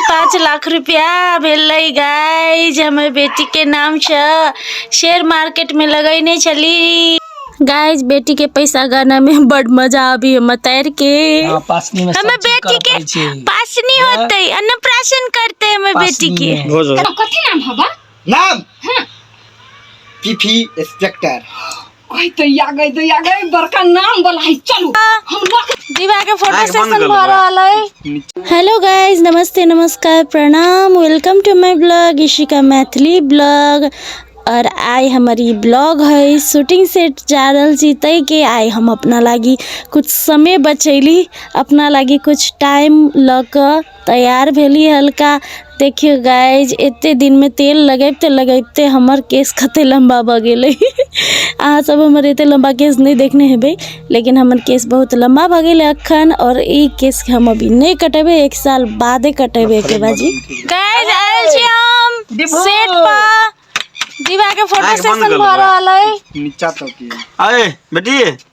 पाँच लाख रुपया भेलै गाय जे हमर बेटीके नामसँ शेयर मार्केटमे लगैने छली गाय बेटीके पैसा गानामे बड मजा आबी हमर तैरके हाँ, पासनी में हमर सब चीज कर बेटीके पड़ै छै। पासनी होतै अन्नप्राशन करतै हमर पासनी बेटीके में। भोज कथी नाम हबा नाम पीफी इंस्पेक्टर ओए दैया गई दैया गई बड़का नाम वाला है चलू हम लोग दीवा के फोटो आँख बंद सेशन कर लो भऽ रहल है हेलो गाइज नमस्ते नमस्कार प्रणाम welcome to my blog Ishika Maithili blog और आइ हमर ई ब्लॉग है शूटिंग सेट जा रहल छी ताहि के आइ हम अपना लागी कुछ समय बचैली अपना लागी कुछ टाइम लऽ कऽ तैयार भेली हल्का देखियौ गाइज एते दिनमे तेल लगैबते लगैबते हमर केश कते लम्बा भऽ गेलै अहाँ सब हमर एते लम्बा केश नहि देखने हेबै लेकिन हमर केश बहुत लम्बा भऽ गेलै अखन और ई केश के हम अभी नहि कटेबै एक साल बादे कटेबै एके बाजी गाइज आयल छी हम सेट पर दीवा के फोटो सेशन भऽ रहल है नीचा तक अरे बेटी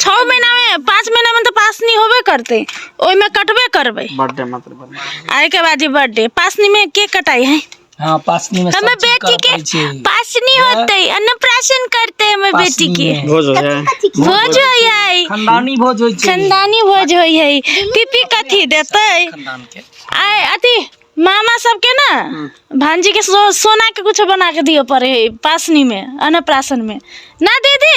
छओ महीनामे पाँच महीनामे तऽ पास नहि होबे करतै ओहिमे कटबे करबै बर्थडे मात्र बर्थडे आ एहिके बाद ई बर्थडे पासनीमे के कटाइ है हाँ पासनी में सब हमर चीज बेटी करऽ के पड़ै छै पासनी होतै अन्नप्राशन करतै हमर बेटी के पासनी में। भोज हो जाए भोज होइ है खानदानी भोज होइ छै खानदानी भोज होइ है पीपी कथी देतै खानदान के आय अथी मामा सबके ना भांजी के सो, सोना के कुछ बना के दियो पड़े है पासनी में अन्नप्राशन में ना दीदी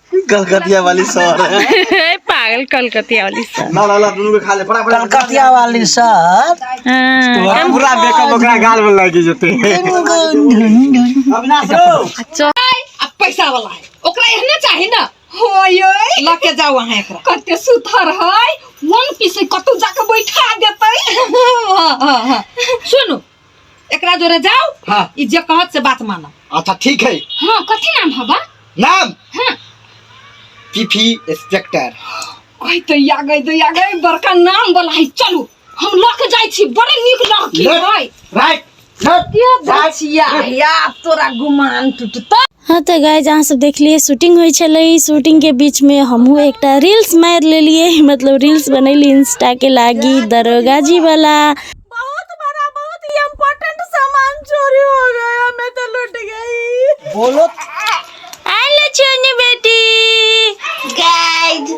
कलकतिया वाली सर ए, पागल कलकतिया वाली सर ना ना ना दुनू के खा ले फटाफट कलकतिया वाली सर हाँ, पूरा मेकअप ओकरा गाल में लगी जते अविनाश रो चो- आ पैसा वाला है ओकरा एहने चाही ना होयो ल के जाओ अहाँ एकरा कते सुथर है वन पीस कतौ जाके बैठा देतै सुनू एकरा जोरे जाओ हाँ ई जे कहत से बात मानो अच्छा ठीक है हाँ कथी नाम है बा नाम हाँ पीफी इंस्पेक्टर कहि तो या गई तो या गई बड़का नाम वाला है चलू हम लक जाई छी बड़े निक लड़की है राइट राइट ये बचिया या तोरा गुमान टूटता हँ तऽ गाइज अहाँ सब देखलियै शूटिंग होइ छलै शूटिंग के बीच में हमहूँ एकटा रील्स मार लेलियै मतलब रील्स बनेली इंस्टा के लागी दरोगा जी वाला बहुत बड़ा बहुत ही इम्पोर्टेंट सामान चोरी हो गया मैं तो लुट गई बोलो आलो छोनी बेटी गाइज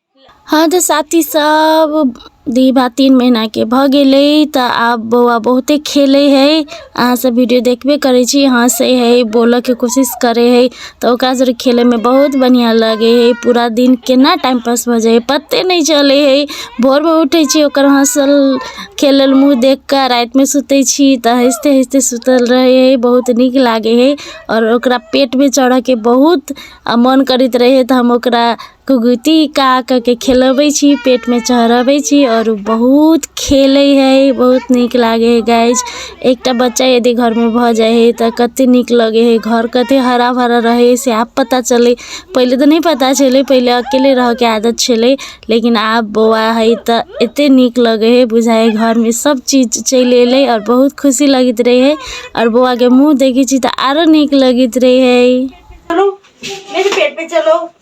हँ तऽ साथी सब दी बा तीन महीना के भऽ गेलै तऽ आब बौआ बहुते खेलै है अहाँ सब वीडियो देखबे करै छी हँसै है बोलऽ के कोशिश करै है तऽ ओकरा जरे खेलै मे बहुत बढ़िया लगै है पूरा दिन केना टाइम पास भऽ जाइ है पते नहि चलै है भोर मे उठै छी ओकर हँसल खेलल मुँह देख कऽ राति मे सुतै छी तऽ हँसते हँसते सुतल रहै है बहुत नीक लागै है आओर ओकरा पेट मे चढ़ऽ के बहुत आ मन करैत रहै है तऽ हम ओकरा कुगुती का कऽ के खेलबै छी पेटमे चढ़बै छी आओर ओ बहुत खेलै हइ बहुत नीक लागै हइ गाइज एकटा बच्चा यदि घरमे भऽ जाइ हइ तऽ कतेक नीक लगै हइ घर कतेक हरा भरा रहै हइ से आब पता चलै पहिले तऽ नहि पता छलै पहिले अकेले रहयके आदत छलै लेकिन आब बौआ हइ तऽ एतेक नीक लगै हइ बुझाइ हइ घरमे सभचीज चलि अयलै आओर बहुत खुशी लगैत रहै हइ आओर बौआके मूँह देखै छी तऽ आरो नीक लगैत रहै हइ चलो मेरे पेट पे चलो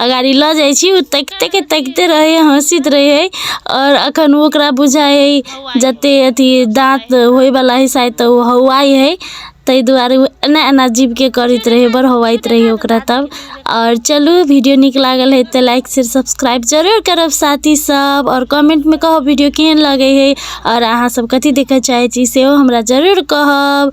आ गाड़ी लऽ जाइ छी ओ तकिते के तकिते रहै हँसैत रहै आओर एखन ओकरा बुझाइ हइ जते अथी दाँत होइवला हइ शायद तऽ ओ हौआइ हइ ताहि दुआरे ओ एना एना जीभके करैत रहै बड़ हौआइत रहै ओकरा तब आओर चलू वीडियो नीक लागल हइ तऽ लाइक शेयर सब्सक्राइब जरूर करब साथी सब आओर कमेंटमे कहब वीडियो केहन लगै हइ आओर अहाँ सब कथी देखऽ चाहै छी सेहो हमरा जरूर कहब